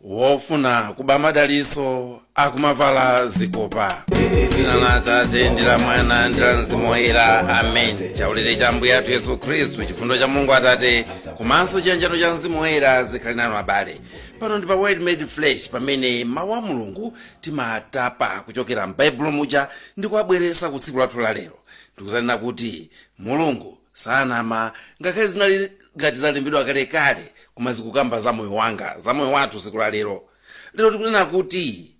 wofuna kuba madaliso akumavala zikopa dzina la atate ndi la mwana ndi la mzimu woyera amen chaulere cha ambuye athu yesu khristu chifundo cha mulungu atate komanso chiyanjano cha mzimu woyera zikhale nanu abale pano ndi pa word made flesh pamene mawu a mulungu timatapa kuchokera m'baibulo muja ndi kuwabweresa ku tsiku lathu la lero ndikuzanena kuti mulungu sanama ngakhale zinali ngati zalembedwa kalekale koma zikukamba za moyo wanga za moyo wathu tsiku la lero lero tikunena kuti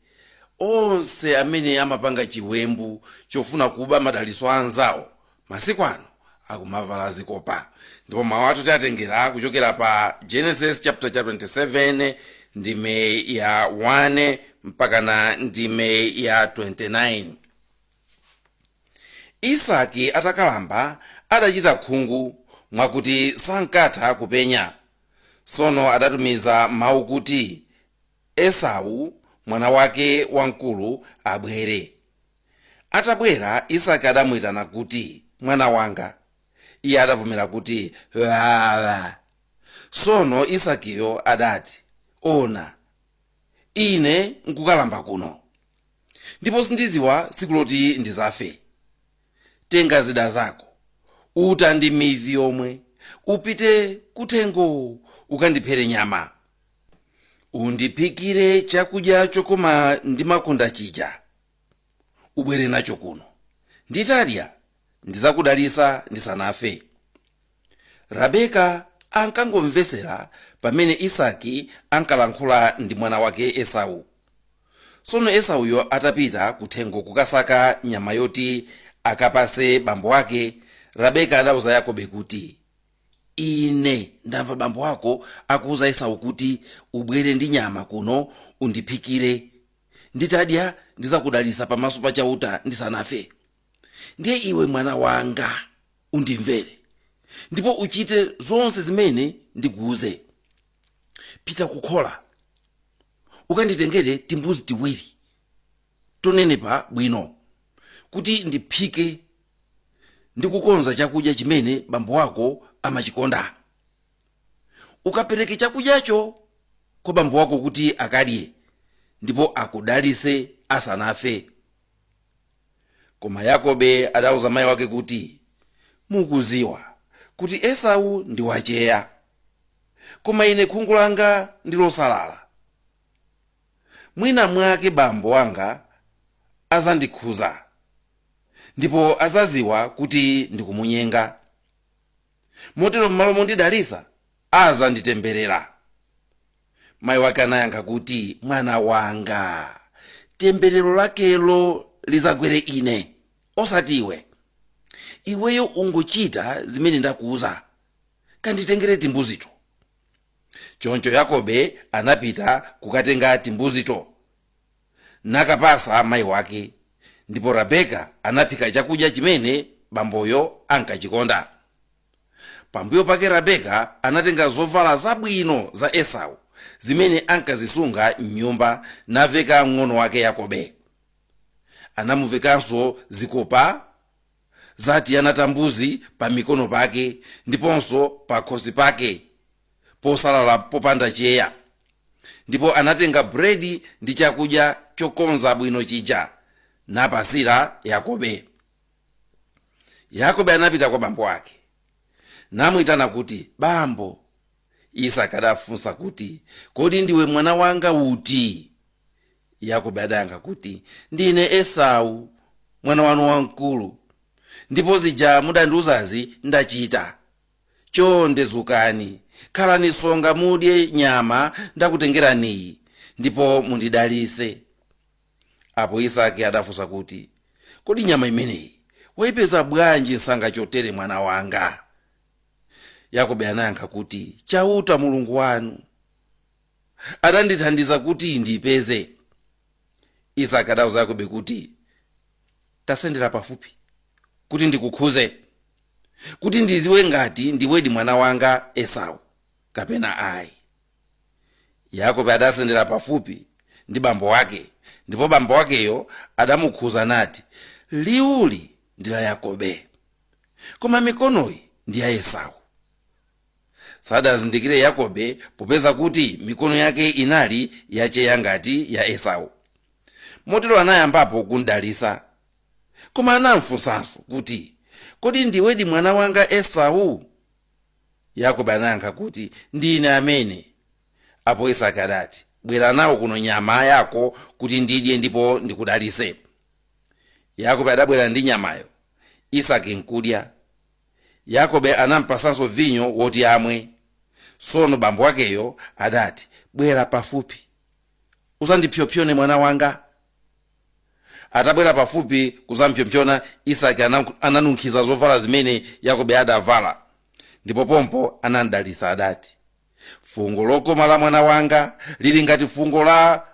onse amene amapanga chiwembu chofuna kuba madalitso a anzawo masiku ano akumavala zikopa ndipo mawu athu tiatengera kuchokera pa genesis chapter 27 ndime ya 1 mpakana ndime ya 29 Isaki atakalamba adachita khungu, mwakuti sankatha kupenya. Tsono adatumiza mau kuti Esau, mwana wake wamkulu, abwere. Atabwera, Isaki adamuitana kuti, Mwana wanga. Iye adavomera kuti, Wawa. Tsono Isakiyo adati, Ona! ine nkukalamba kuno ndipo sindiziwa siku loti ndizafe tenga zida zako uta ndi mivi yomwe upite kuthengo ukandiphere nyama undiphikire chakudya chokoma ndimakonda chija ubwere nacho kuno nditadya ndizakudalisa ndisanafe rabeka ankangomvetsera pamene isaki ankalankhula ndi mwana wake esau tsono esauyo atapita kuthengo kukasaka nyama yoti akapase bambo wake rabeka adauza yakobe kuti ine ndamva bambo wako akuuza esau kuti ubwere ndi nyama kuno undiphikire nditadya ndizakudalisa pamaso pa chauta ndisanafe ndiye iwe mwana wanga undimvere ndipo uchite zonse zimene ndikuuze pita kukhola ukanditengere timbuzi tiwiri tonenepa bwino kuti ndiphike ndi kukonza chakudya chimene bambo wako amachikonda ukapereke chakudyacho kwa bambo wako kuti akadye ndipo akudalise asanafe koma yakobe adauza mayi wake kuti mukuziwa kuti esau ndi wacheya koma ine khungu langa ndi losalala mwina mwake bambo wanga azandikhuza ndipo azaziwa kuti ndikumunyenga motero m'malo mondidalitsa azanditemberera mayi wake anayankha kuti mwana wanga temberero lakelo lizagwere ine osati iwe iweyo ungochita zimene ndakuuza kanditengere timbuzito choncho yakobe anapita kukatenga timbuzito nakapasa mayi wake ndipo rebeka anaphika chakudya chimene bamboyo ankachikonda pambuyo pake rebeka anatenga zovala zabwino za esau zimene ankazisunga m'nyumba naveka mng'ono wake yakobe anamuvekanso zikopa za tiana ta mbuzi pa mikono pake ndiponso pa khosi pake posalala popanda cheya ndipo anatenga bredi ndi chakudya chokonza bwino chija napasira yakobe yakobe anapita kwa bambo ake namuyitana kuti bambo Isaki adafunsa kuti, Kodi ndiwe mwana wanga uti? Yakobe adayankha kuti, Ndine Esau, mwana wanu wamkulu, ndipo zija mudandiwuzazi ndachita. Chonde dzukani, khalani tsonga mudye nyama ndakutengeraniyi, ndipo mundidalitse. Apo Isaki adafunsa kuti, Kodi nyama imeneyi waipeza bwanji msanga chotere mwana wanga? yakobe anayankha kuti chauta mulungu wanu adandithandiza kuti ndipeze isaki adauza yakobe kuti tasendera pafupi kuti ndikukhuze kuti ndiziwe ngati ndiwedi mwana wanga esau kapena ayi yakobe adasendera pafupi ndi bambo wake ndipo bambo wakeyo adamukhuza nati liwuli ndi la yakobe koma mikonoyi ndi ya esau sadamzindikire yakobe popeza kuti mikono yake inali yacheya ngati ya esau motero anayambapo kumdalisa koma anamfunsanso kuti kodi ndiwedi mwana wanga esau yakobe anayankha kuti ndine amene apo isaki adati bwera nawo kuno nyama yako kuti ndidye ndipo ndikudalise yakobe adabwera ndi nyamayo isaki nkudya yakobe anampasanso vinyo woti amwe tsono bambo wakeyo adati bwera pafupi uzandipsyopsyone mwana wanga atabwera pafupi kuzampsyopsyona isaki ananunkhiza zovala zimene yakobe adavala ndipo pompo anamdalisa adati fungo lokoma la mwana wanga lili ngati fungo la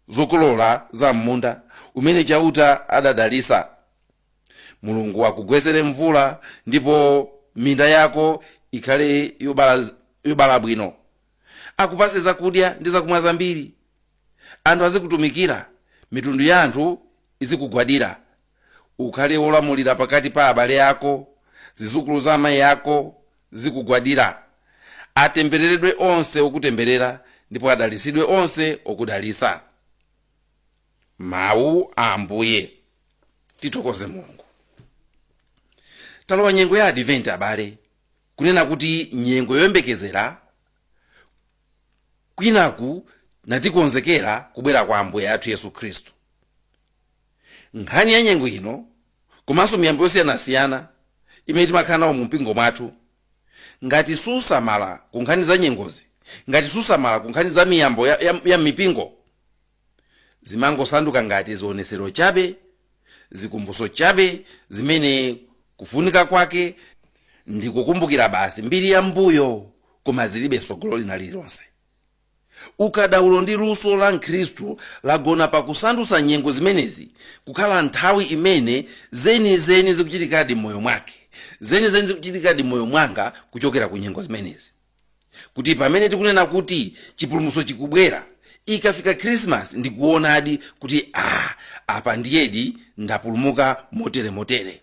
zokolola za m'munda umene chauta adadalisa mulungu akugwesere mvula ndipo minda yako ikhale yobala bwino akupase zakudya ndi zakumwa zambiri anthu azikutumikira mitundu ya anthu izikugwadira ukhale wolamulira pakati pa abale ako, zidzukulu za amayi ako zikugwadira. Atembereredwe onse okutemberera, ndipo adalitsidwe onse okudalitsa. Mawu a Ambuye. Tithokoze Mulungu. Talowa nyengo ya Advent abale, kunena kuti nyengo yoyembekezera kwinaku natikonzekera kubwera kwa Ambuye athu Yesu Khristu. Nkhani ya nyengo ino komanso miyambo yosiyanasiyana imene timakhala nawo mu mpingo mwathu, ngati susamala ku nkhani za nyengozi, ngati susamala ku nkhani za miyambo ya m'mipingo, zimangosanduka ngati zionetsero chabe, zikumbutso chabe zimene kufunika kwake ndi kukumbukira basi mbiri ya mbuyo koma zilibe tsogolo lina lililonse. Ukadaulo ndi luso la Mkhristu lagona pa kusandutsa nyengo zimenezi kukhala nthawi imene zenizeni zikuchitikadi m'moyo mwake, zenizeni zikuchitikadi m'moyo mwanga kuchokera ku nyengo zimenezi. Kuti pamene tikunena kuti chipulumutso chikubwera, ikafika Khrisimasi ndikuonadi kuti ah, apa ndiyedi ndapulumuka motere motere.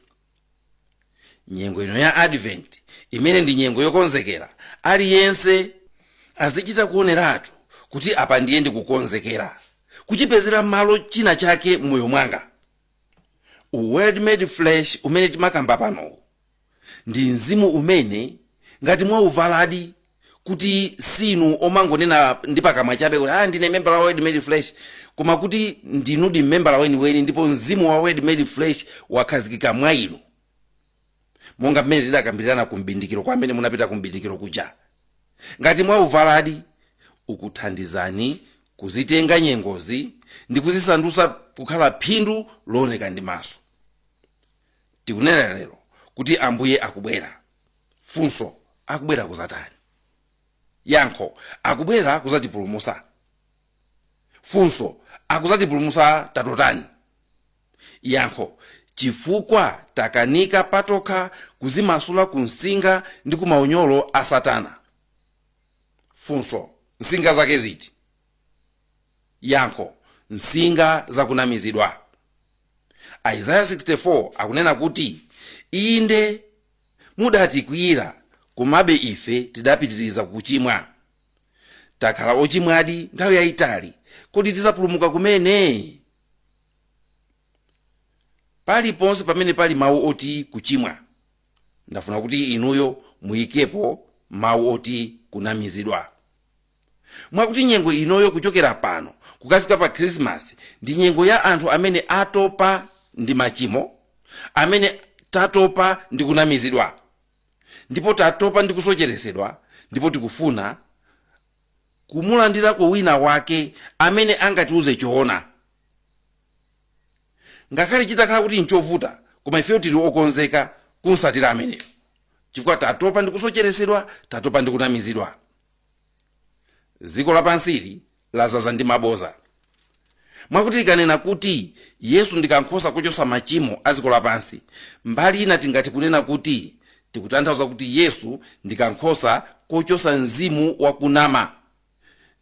nyengo ino ya advent imene ndi nyengo yokonzekera aliyense azichita kuoneratu kuti apa ndiye ndikukonzekera kuchipezera malo china chake m'moyo mwanga word made flesh umene timakamba panowu ndi mzimu umene ngati mwauvaladi kuti sinu omangonena ndi pakamwa chabe kuti ah, ndine membala wa word made flesh koma kuti ndinudi membala weniweni ndipo mzimu wa word made flesh wakhazikika mwa inu monga mmene tidakambirana kumbindikiro kwa amene munapita kumbindikiro kuja ngati mwauvaladi ukuthandizani kuzitenga nyengozi ndi kuzisandutsa kukhala phindu looneka ndi maso tikunena lero kuti ambuye akubwera funso akubwera kuzatani yankho akubwera kuzatipulumusa funso akuzatipulumusa tatotani yankho chifukwa takanika patokha kuzimasula ku msinga ndi ku maunyolo a satana funso msinga zake ziti Yankho, Msinga za kunamizidwa. Isaiah 64 akunena kuti, Inde, mudatikwiyira, komabe ife tidapitiriza kuchimwa. Takhala ochimwadi nthawi yayitali, kodi tidzapulumuka kumene? Paliponse pamene pali mawu oti kuchimwa, ndafuna kuti inuyo muyikepo mawu oti kunamizidwa. mwakuti nyengo inoyo kuchokera pano kukafika pa khrisimasi ndi nyengo ya anthu amene atopa ndi machimo amene tatopa ndi kunamizidwa ndipo tatopa ndi kusocheretsedwa ndipo tikufuna kumulandirako wina wake amene angatiuze choona ngakhale chitakhala kuti nchovuta koma ifeyo tili okonzeka kumsatira ameneyo chifukwa tatopa ndi kusocheretsedwa tatopa ndi kunamizidwa dziko lapansili lazaza ndi maboza mwakuti tikanena kuti yesu ndi kankhosa kochotsa machimo a dziko lapansi mbali ina tingati kunena kuti tikutanthauza kuti yesu ndi kankhosa kochotsa mzimu wakunama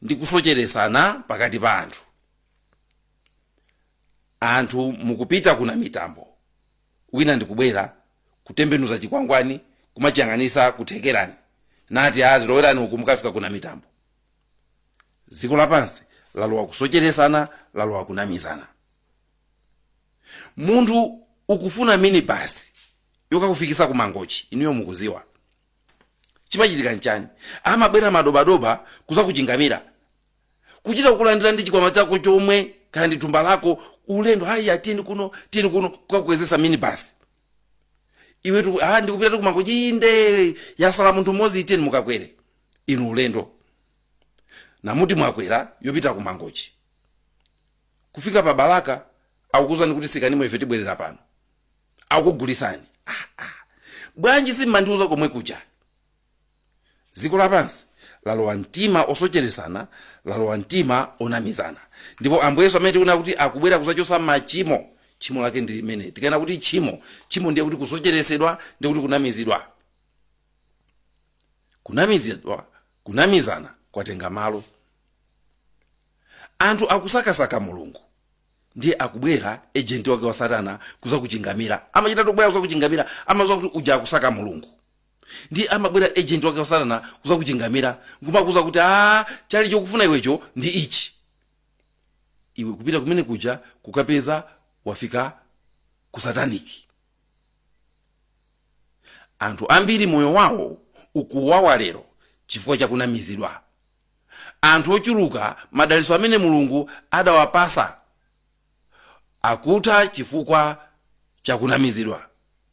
ndi kusocheretsana pakati pa anthu anthu mukupita ku Namitambo wina ndikubwera kutembenuza chikwangwani kumachiyang'anisa ku Thekerani nati aa zilowerani uku mukafika ku Namitambo dziko lapansi lalowa kusocheresana lalowa kunamizana munthu ukufuna minibasi yokakufikisa ku mangochi inuyo mukuziwa chimachitika nchani amabwera madobadoba kuzakuchingamira kuchita kukulandira ndi chikwama chako chomwe kaya ndi thumba lako ulendo haya tini kuno tini kuno kukakwezesa minibasi iwe tu- ah, ndikupita kumangochi inde yasala munthu mmodzi iteni mukakwere inu ulendo nkumati mwakwera yopita kumangochi kufika pa balaka akukuuzani kuti sikanimo ife tibwerera pano akugulisani ah, ah. bwanji simmandiuza komwe kuja dziko lapansi lalowa mtima osocheretsana lalowa mtima onamizana ndipo ambuye yesu amene tikunena kuti akubwera kudzachotsa machimo tchimo lake ndi limeneli tikanena kuti tchimo tchimo ndiye kuti kusocheretsedwa ndiye kuti kunamizidwa kunamizidwa kunamizana kwatenga malo anthu akusakasaka mulungu ndiye akubwera ejenti wake wa satana kuzakuchingamira amachita tokubwera kuzakuchingamira amaziwa kuti uja akusaka mulungu Ndiye amabwera agent wake wa Satana kuzakuchingamira, nkumakuuza kuti, Aaa, chali chokufuna iwecho ndi ichi. Iwe kupita kumene kuja kukapeza wafika ku satanic. Anthu ambiri moyo wawo ukuwawa lero chifukwa cha kunamizidwa. Anthu ochuluka madalitso amene Mulungu adawapasa akutha chifukwa cha kunamizidwa.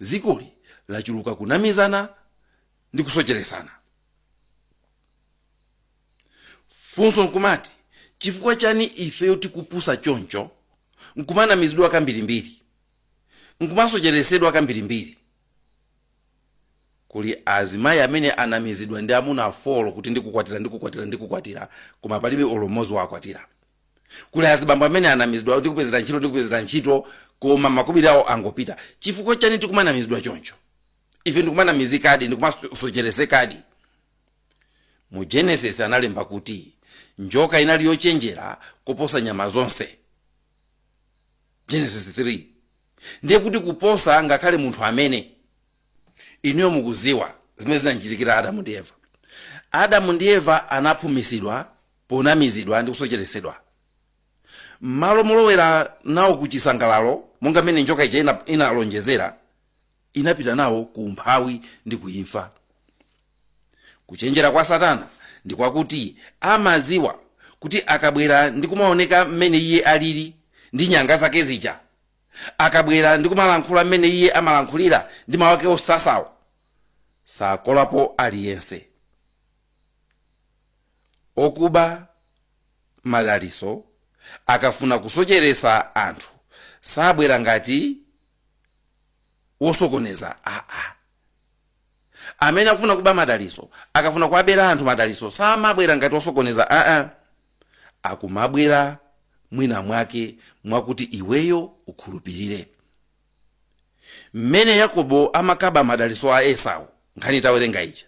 zikoli lachuluka kunamizana ndi kusocheresana funso nkumati chifukwa chani ifeyo tikupusa choncho nkumanamizidwa kambirimbiri nkumasocheresedwa kambirimbiri kuli azimayi amene anamizidwa ndi amuna afolo kuti ndikukwatira ndikukwatira ndikukwatira koma palibe olo mmodzi wakwatira kuli azibambo amene anamizidwa ndikupezera ntchito ndikupezera ntchito koma makobiri awo angopita chifukwa chani tikumanamizidwa choncho ife ndikumanamizikadi ndikumasocheresekadi mu genesis analemba kuti njoka inali yochenjera kuposa nyama zonse genesis 3 ndiye kuti kuposa ngakhale munthu amene inuyo mukuziwa zimene zinachitikira adamu ndi eva adamu ndi eva anaphumisidwa ponamizidwa ndi kusocheretsedwa. M'malo molowera nawo ku chisangalalo, monga mmene njoka ija inalonjezera, inapita nawo ku umphawi ndi ku imfa. Kuchenjera kwa Satana ndi kwakuti amadziwa kuti akabwera ndi kumaoneka mmene iye alili ndi nyanga zake zija, akabwera ndi kumalankhula mmene iye amalankhulira ndi mawu ake osasawa, sakolapo aliyense. Okuba madaliso akafuna kusocheresa anthu sabwera ngati wosokoneza aa amene akufuna kuba madaliso akafuna kuwabera anthu madaliso samabwera ngati wosokoneza aa akumabwera mwina mwake mwakuti iweyo ukhulupirire mmene yakobo amakaba madalitso a esau nkhani tawerenga ija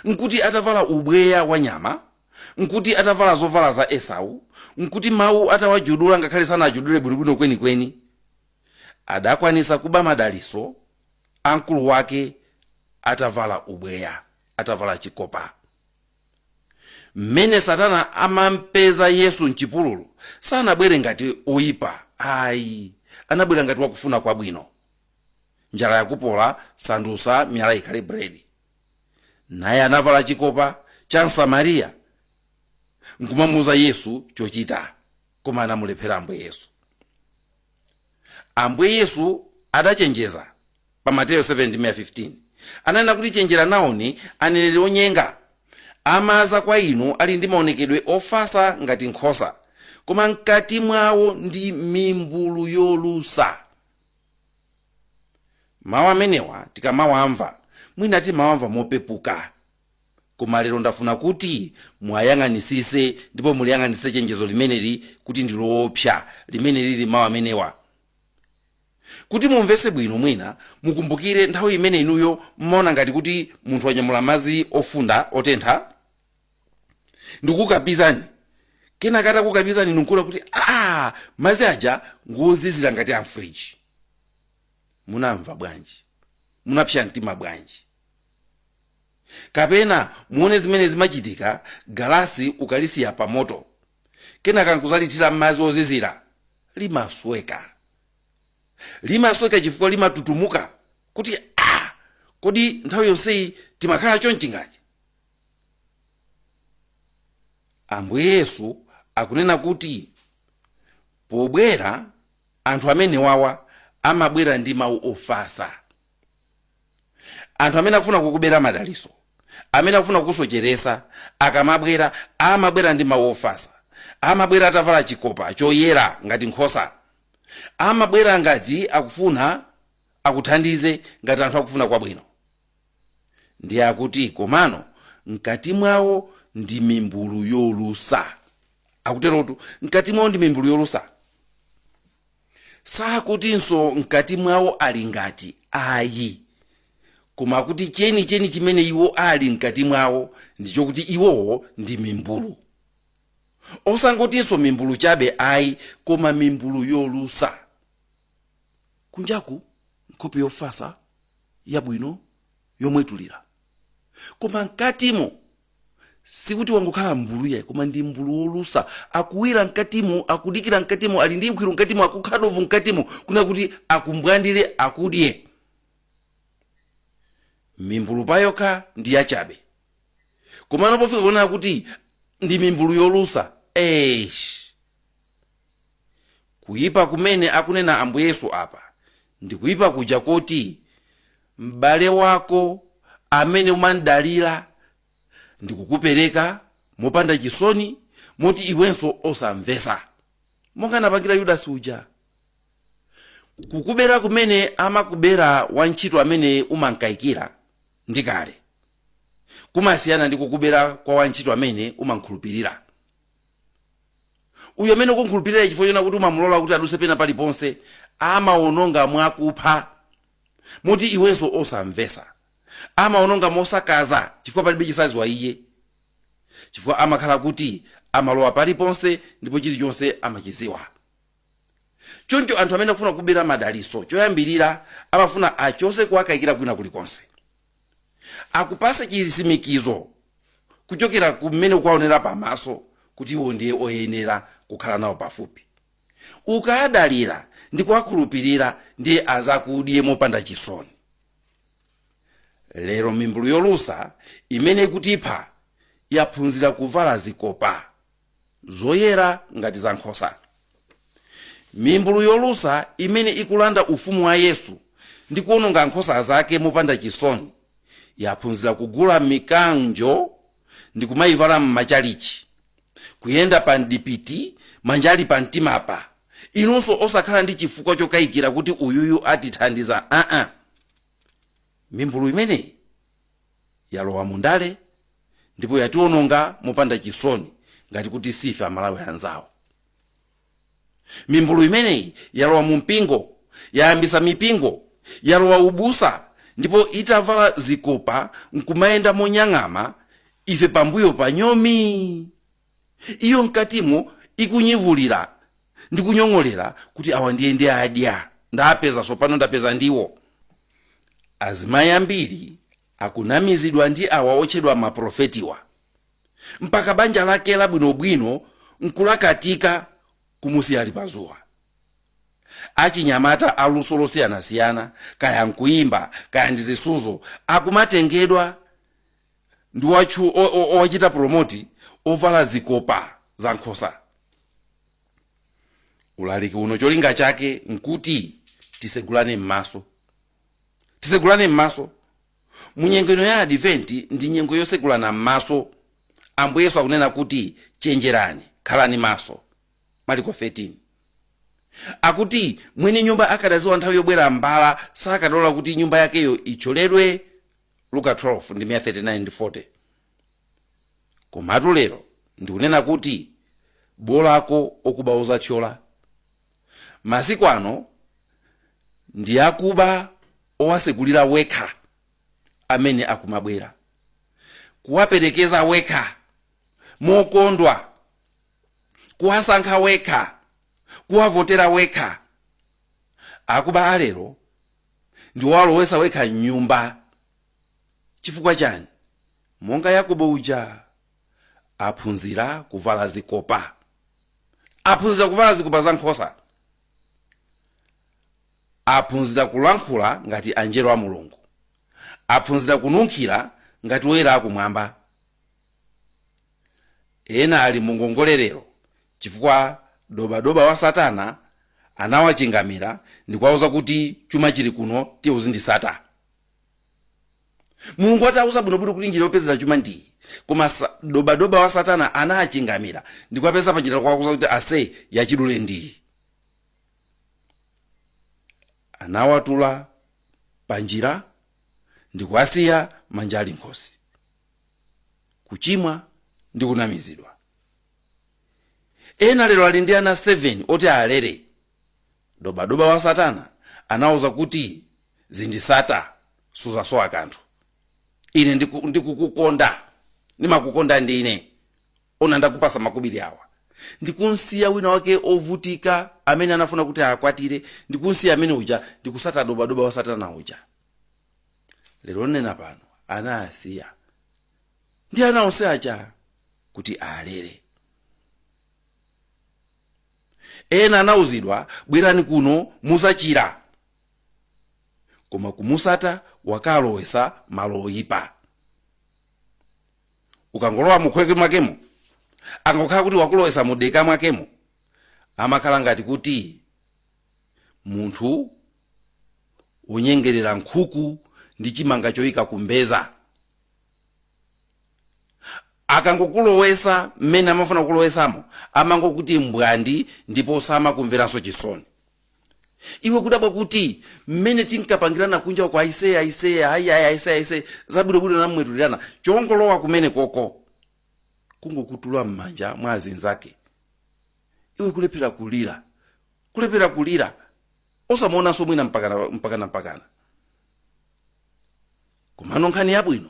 nkuti atavala ubweya wa nyama nkuti atavala zovala za esau nkuti mawu atawajudula ngakhale sanajudule bwinobwino kwenikweni adakwanisa kuba madalitso a mkulu wake atavala ubweya atavala chikopa mmene satana amampeza yesu mchipululu sanabwere ngati oyipa ayi anabwera ngati wakufuna kwabwino njala yakupola sandusa miyala ikhale bredi naye anavala chikopa cha msamariya nkumamuuza yesu chochita koma anamulephera ambuye yesu ambuye yesu adachenjeza pa mateyo 7 ndime ya 15 ananena kuti chenjera nawoni aneneri onyenga amaza kwa inu ali ndi maonekedwe ofasa ngati nkhosa koma mkati mwawo ndi mimbulu yolusa mawu amenewa tikamawamva mwina timawamva mopepuka koma lero ndafuna kuti muwayang'anisise ndipo muliyang'anisise chenjezo limeneli kuti ndi loopsa limene lili mawu amenewa kuti mumvetse bwino mwina mukumbukire nthawi imene inuyo mmaona ngati kuti munthu wanyamula madzi ofunda otentha ndikukapizani kenaka atakukapizani nkuona kuti a madzi aja ngozizira ngati amfriji munamva bwanji munapsa mtima bwanji kapena muone zimene zimachitika galasi ukalisiya pa moto kenaka nkuzalithira madzi ozizira limasweka limasweka chifukwa limatutumuka kuti ah, kodi nthawi yonseyi timakhala chonchi ngati ambuye yesu akunena kuti pobwera anthu amenewawa amabwera ndi mawu ofasa anthu amene akufuna kukubera madaliso amene akufuna kukusocheresa akamabwera amabwera ndi mawu ofasa amabwera atavala chikopa choyera ngati nkhosa amabwera ngati akufuna akuthandize ngati anthu akufuna kwabwino ndiye akuti komano mkati mwawo ndi mimbulu yolusa akuterotu mkati mwawo ndi mimbulu yolusa sakutinso mkati mwawo ali ngati ayi koma kuti cheni cheni chimene iwo ali mkati mwawo ndichokuti iwowo ndi mimbulu osangotinso mimbulu chabe ayi koma mimbulu yolusa kunjaku nkhope yofasa yabwino yomwetulira koma mkatimo sikuti wangokhala mbulu yayi koma ndi mbulu wolusa akuwira mkatimo akudikira mkatimo ali ndi nkhwiru mkatimo akukha dovu mkatimo kuna kuti akumbwandire akudye mimbulu payokha ndi yachabe komano pofika kuona kuti ndi mimbulu yolusa eish Kuipa kumene akunena Ambuye Yesu apa ndi kuipa kuja koti m'bale wako amene umamdalira ndikukupereka mopanda chisoni moti iwenso osamvetsa monga anapangira Yudasi uja. Kukubera kumene amakubera wantchito amene umamkaikira ndi kale kumasiyana ndi kukubera kwa wantchito amene umamkhulupirira. uyo amene ukumukhulupirira chifukwa chona kuti umamulola kuti aduse pena paliponse amaononga mwakupha moti iwenso osamvesa amaononga mosakaza chifukwa palibe chosaziwa iye chifukwa amakhala kuti amalowa paliponse ndipo chilichonse amachiziwa choncho anthu amene akufuna kubera madalitso choyambirira amafuna achose kuwakayikira kwina kulikonse akupase chisimikizo kuchokera kumene ukuwaonera pamaso kuti iwo ndiye oyenera kukhala nawo pafupi ukawadalira ndi kuwakhulupirira ndiye azakudye mopanda chisoni lero mimbulu yolusa imene ikutipha yaphunzira kuvala zikopa zoyera ngati za nkhosa mimbulu yolusa imene ikulanda ufumu wa yesu ndi kuononga nkhosa zake mopanda chisoni yaphunzira kugula mikanjo ndi kumayivala m'machalichi kuyenda pa mpiti manja ali pa mtimapa inunso osakhala ndi chifukwa chokayikira kuti uyuyu atithandiza aa mimbulu imeneyi yalowa mu ndale ndipo yatiwononga mopanda chisoni ngati kuti si ife amalawi anzawo mimbulu imeneyi yalowa mu mpingo yayambisa mipingo yalowa ubusa ndipo itavala zikopa nkumayenda monyang'ama ife pambuyo pa nyomi Iyo mkatimo ikunyivulira ndi kunyong'olera kuti awa ndiye ndidya ndapeza tsopano ndapeza ndiwo azimayi ambiri akunamizidwa ndi awa otchedwa maprofetiwa mpaka banja lake labwinobwino nkulakatika kumusiya ali pazuwa achinyamata aluso losiyanasiyana kaya nkuyimba kaya ndi zisuzo akumatengedwa ndi watchu- o- o- owachita promoti ovala zikopa za nkhosa ulaliki uno cholinga chake nkuti tisegulane m'maso tisegulane m'maso mu nyengo ino ya adiventi ndi nyengo yosegulana m'maso ambuye yesu akunena kuti chenjerani khalani maso maliko 13 akuti mwini nyumba akadadziwa nthawi yobwera mbala sakadalola kuti nyumba yakeyo itcholedwe luka 12 ndime ya 39 ndi 40 komatu lero ndikunena kuti bolako okuba ozatchyola masiku ano ndi akuba owasekulira wekha amene akumabwera kuwaperekeza wekha mokondwa kuwasankha wekha kuwavotera wekha akuba alero ndiwalowesa wekha mnyumba chifukwa chani monga yakobo uja aphunzira kuvala zikopa aphunzira kuvala zikopa za nkhosa aphunzira kulankhula ngati anjelo a mulungu aphunzira kununkhira ngati woyera akumwamba ena ali mungongole lero Chifukwa dobadoba wa Satana anawachingamira ndikuwauza kuti chuma chili kuno, tiye uzindisata. Mulungu atawuza bwinobwino kuti njira yopezera chuma ndiyi, koma sa, dobadoba wa Satana anachingamira ndikuwapeza panjira ndikuwauza kuti ase yachidule ndiyi. Anawatula panjira ndikuwasiya manja ali mkhosi, kuchimwa ndi kunamizidwa. ena lero ali ndi ana 7 oti alere dobadoba wa satana anawauza kuti zindisata suzasowa kanthu ine ndiku- ndikukukonda ndimakukonda ndine ona ndakupasa makubiri awa ndikunsiya wina wake ovutika amene anafuna kuti akwatire ndikunsiya amene uja ndikusata dobadoba wa satana uja lero nnena pano anaasiya ndi ana onse aja kuti alere ena anauzidwa bwerani kuno muzachira koma kumusata wakalowesa malo oyipa ukangolowa mukhweke mwakemo angokhala kuti wakulowesa mudeka mwakemo amakhala ngati kuti munthu wonyengerera nkhuku ndi chimanga choyika kumbeza akangokulowesa mmene amafuna kulowesamo amangokuti mbwandi ndipo samakumveranso chisoni iwe kudabwa kuti mmene tinkapangirana kunja kwa aiseye aiseye ayi ayi aiseye aiseye zabwinobwino nkumwetulirana tongolowa kumene koko kungokutula m'manja mwa azinzake iwe kulephera kulira kulephera kulira osamuonanso mwina mpakana mpakana mpakana komano nkhani yabwino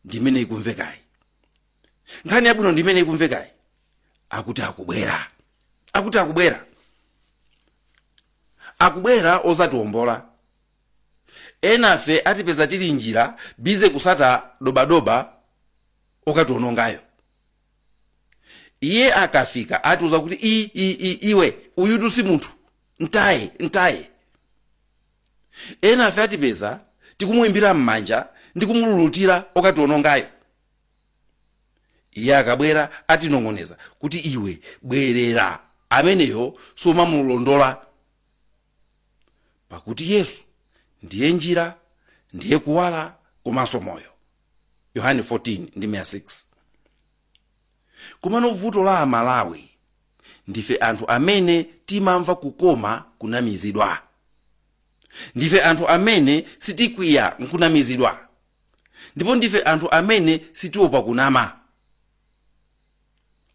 ndi imene ikumvekayi nkhani yabwino ndi imene ikumvekayi akuti akubwera akuti akubwera akubwera ozatiwombola enafe atipeza tili njira bize kusata dobadoba okatiwonongayo iye akafika atiuza kuti i, i, i, iwe uyutu si munthu ntaye ntaye Enafe adzatipeza tikumuimbira m'manja ndi kumululutira okatiwonongayo. Iye akabwera atinong'oneza kuti iwe bwerera ameneyo sumamulondola. Pakuti Yesu ndiye njira, ndiye kuwala komanso moyo. Yohane 14 ndime ya 6. Komano vuto la amalawi ndife anthu amene timamva kukoma kunamizidwa. Ndife anthu amene sitikwiya nkunamizidwa ndipo ndife anthu amene sitiopa kunama.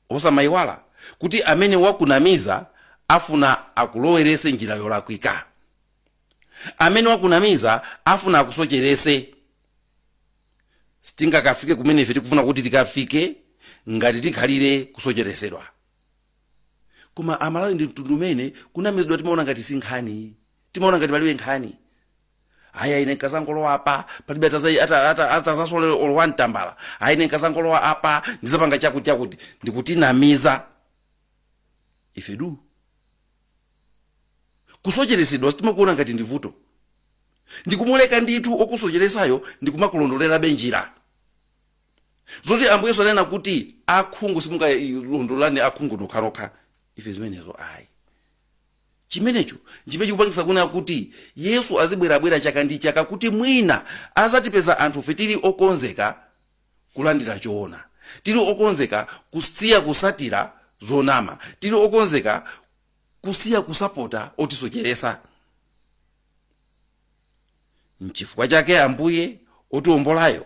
Osamayiwala kuti amene wakunamiza afuna akulowerese njira yolakwika. Amene wakunamiza afuna akusocherese. sitingakafike kumene ife tikufuna kuti tikafike ngati tikhalire kusocheretsedwa koma amalawi ndi mtundu umene kunamizidwa timaona ngati si nkhani timaona ngati palibe nkhani aya ine nkazangolowa apa palibe ataza- ata- ata- atazasolole wantambala aya ine nkazangolowa apa ndizapanga chakuti chakuti nkutinamiza ife du kusocheretsedwa sitimakuona ngati ndi vuto ndikumaleka ndithu okusocheresayo ndikumakulondolerabe njira zoti ambuye yesu anena kuti akhungu simungailondolelane akhungu nokhanokha ife zimenezo ayi chimenecho nchimene chikupangisa kunena kuti yesu azibwerabwera chaka ndi chaka kuti mwina azatipeza anthufe tili okonzeka kulandira choona tili okonzeka kusiya kusatira zonama tili okonzeka kusiya kusapota otisocheresa nchifukwa chake ambuye otiwombolayo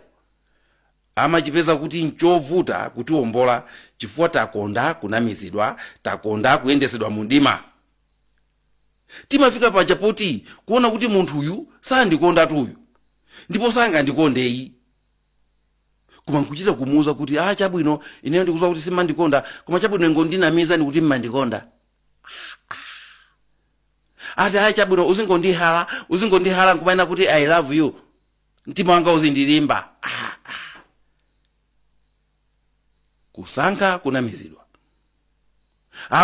amachipeza kuti nchovuta kutiwombola chifukwa takonda kunamizidwa takonda kuyendetsedwa mu mdima timafika paja poti kuona kuti munthuyu sandikondatu uyu ndipo sangandikondeyi koma nkuchita kumuuza kuti a chabwino ineyo ndikudziwa kuti simandikonda koma chabwino ingondinamiza ndikuti mmandikonda ati ayi chabwino uzingondihala uzingondihala nkumanena kuti i love you mtima wanga uzingolimba ah, ah. kusankha kunamizidwa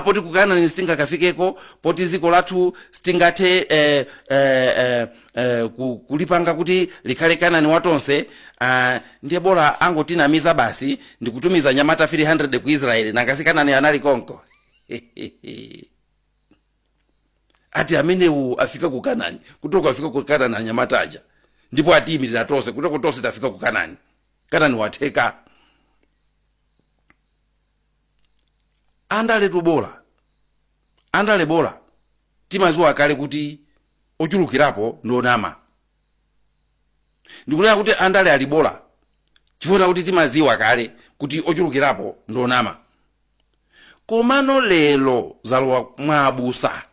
poti ku kanani sitingakafikeko poti dziko lathu sitingathe eh, eh, eh, eh, ku- kulipanga kuti likhale kanani watonse ah, ndiye bola angotinamiza basi ndikutumiza nyamata 300 ku israeli nanga si kanani anali konko ati amenewo afika ku kanani kutoko afika ku kanani anyamata aja ndipo atiyimirira tonse kutoko tonse tafika ku kanani kanani watheka andale tubola andale bola timaziwa kale kuti ochulukirapo ndi onama ndikunena kuti andale ali bola chifukwa kuti timaziwa kale kuti ochulukirapo ndi onama komano lero zalowa mwa abusa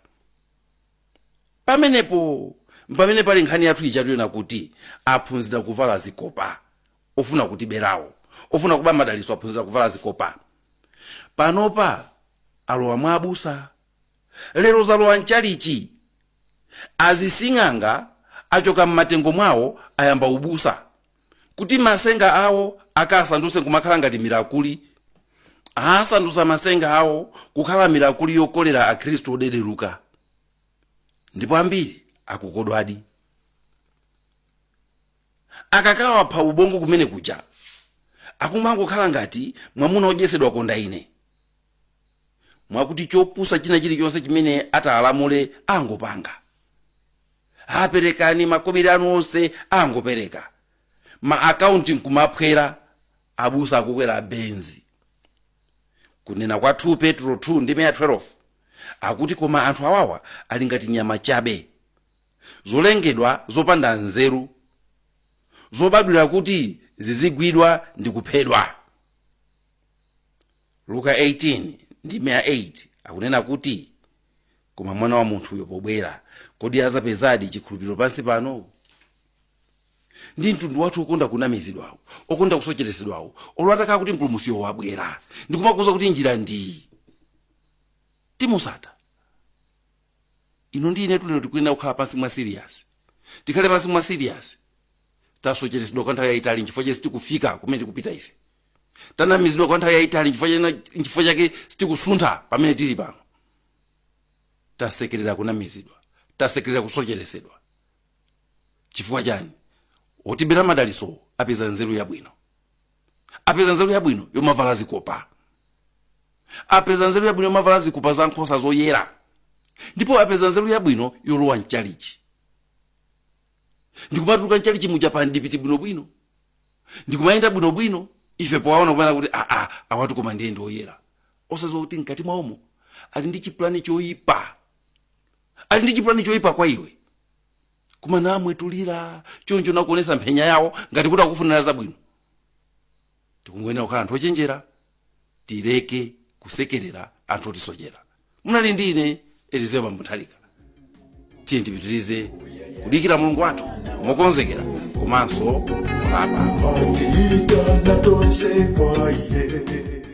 pamenepo pamene pali nkhani yathu ija tukunena kuti aphunzira kuvala zikopa ofuna kutiberawo ofuna kuba madalitso aphunzira kuvala zikopa panopa alowa mwa abusa lero zalowa mchalichi. Azising'anga achoka mmatengo mwawo ayamba ubusa kuti masenga awo akasanduse nkumakhala ngati milakuli. Asandusa masenga awo kukhala milakuli yokolera akhristu odedeluka ndipo ambiri akukodwadi. Akakawapha ubongo kumene kuja akumangokhala ngati mwamuna odyesedwa konda ine. mwakuti chopusa china chilichonse chimene atalamule angopanga a perekani makobiri anu onse angopereka ma akaunti nkumaphwera abusa akukwera benzi kunena kwa 2 petro 2 ndime ya 12 akuti koma anthu awawa ali ngati nyama chabe zolengedwa zopanda nzeru zobadwira kuti zizigwidwa ndi kuphedwa luka 18 ndime ya 8 akunena kuti koma mwana wa munthuyo pobwera kodi azapezadi chikhulupiriro pansi pano ndi mtundu wathu okonda kunamizidwawo okonda kusocheretsedwawo olo atakhala kuti mpulumusiyo wabwera ndikumakuza kuti njira ndi iyi simutsata ino ndi inetu lero tikuyenera kukhala pansi mwa serious tikhale pansi mwa serious tasocheretsedwa kwa nthawi yayitali nchifukwa chake sitikufika kumene tikupita ife tanamizidwa kwa nthawi yayitali nchifukwa chena- nchifukwa chake sitikusuntha pamene tili pano tasekerera kunamizidwa tasekerera kusocheretsedwa chifukwa chani otibera madaliso apeza nzeru yabwino apeza nzeru yabwino yomavala zikopa apeza nzeru yabwino yomavala zikopa za nkhosa zoyera ndipo apeza nzeru yabwino yolowa mchalichi ndikumatuluka mchalichi muja pandipiti bwinobwino ndikumayenda bwinobwino ife powaona kumanena kuti aa awatu koma ndiye ndi oyera osaziwa kuti mkati mwawomo ali ndi chipulani choyipa ali ndi chipulani choyipa kwa iwe kumanamwetulira choncho nakuonesa mpenya yawo ngati kuti akufunira zabwino Tikungoyenera kukhala anthu ochenjera tileke kusekerera anthu otisochera. Munali ndi ine Elizeo Mbambo Nthalika. Tiyeni tipitirize kudikira Mulungu wathu mokonzekera komanso kulapa. Atiitana tonse kwa iye